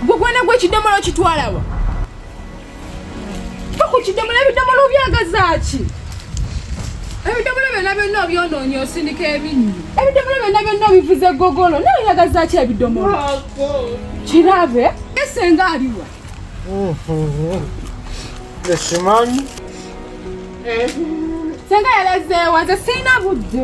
gwe gwana gwe ekidomola okitwalawa ku kidomola ebidomola obyagazaaki ebidomola byonna byonna obyonoonye osindika ebinyu ebidomola byonna byonna obivuze gogolo naye oyagazaaki ebidomola kirabe esenga aliwa ekimanyi senga yalazeewa nze sirina budde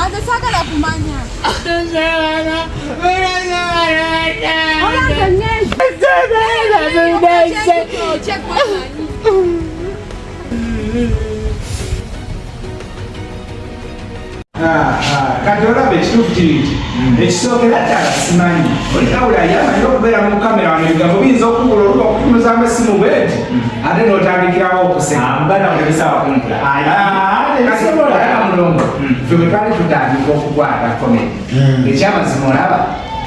Anze sagala kumanya. kati olaba ekituufu kiri nti ekisookera ddala simanyi olikawula yamanyi okubeera mu kamera wano ebigambo biyinza okubula oluba okutunuza amasimu bweti ate n'otandikirawo okuseka twali tutandika okukwata komedi hmm. ekyamazima olaba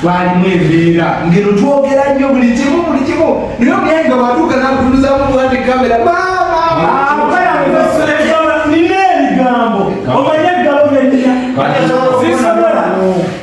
twalimu embeera ngeno twogera nnyo buli kimu buli kimu naye omuyayi nga watuuka nakutunuzamu bwati kamera nina ebigambo omanye eggalo byenina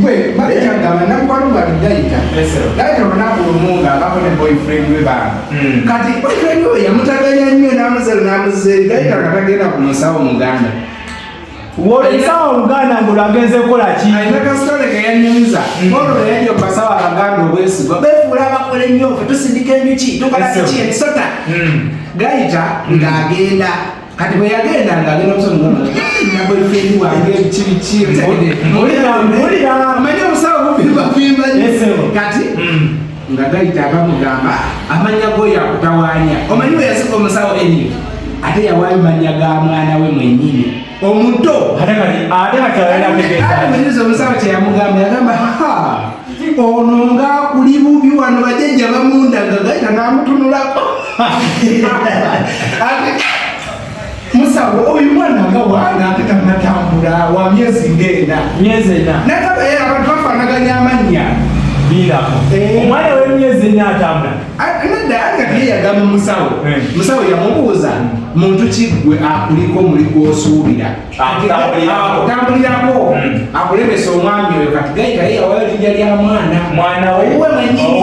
gwe maneja ngamba namukwano gwange dayita dayita olunaku lumu nga abako ne boyfriend we banga hmm. kati boyfriend we yamutaganya nnyo namuzero namuzeri dayita nga tagenda ku musawo muganda wolesawa oluganda nga olwagenze kukola ki alina kasitole keyanyumiza hmm. olwo yajja okubasawa abaganda obwesigwa befuula abakola ennyo fe tusindika enjuki tukola kiki emisota hmm. gayita ng'agenda kati bwe yagenda nga agenda omusonabwefendi wange kibikimanya omusawo bufimbafimba kati mm. nga gayita abamugamba amanya go yakutawanya omanyi bwe yasika omusawo eni ate yawayo manya ga mwana we mwenyini omuto ate kati omusawo kyeyamugamba yagamba ono ngaakuli bubi wano bajajja bamundaga gaita namutunulako musawo oyo mwana nga wana ate tanatambula wa myezi ngenda myezi ena nataba era abantu bafanaganya amannya biirako eh. omwana w'emyezi ena atambula nadda ate kati yeyagamba musawo eh. musawo yamubuuza muntu kiggwe akuliko muli gwosuubira akutambulirako hmm. akulemesa omwami oyo kati gayita ye yawayo linja lya mwana mwana we mwenyini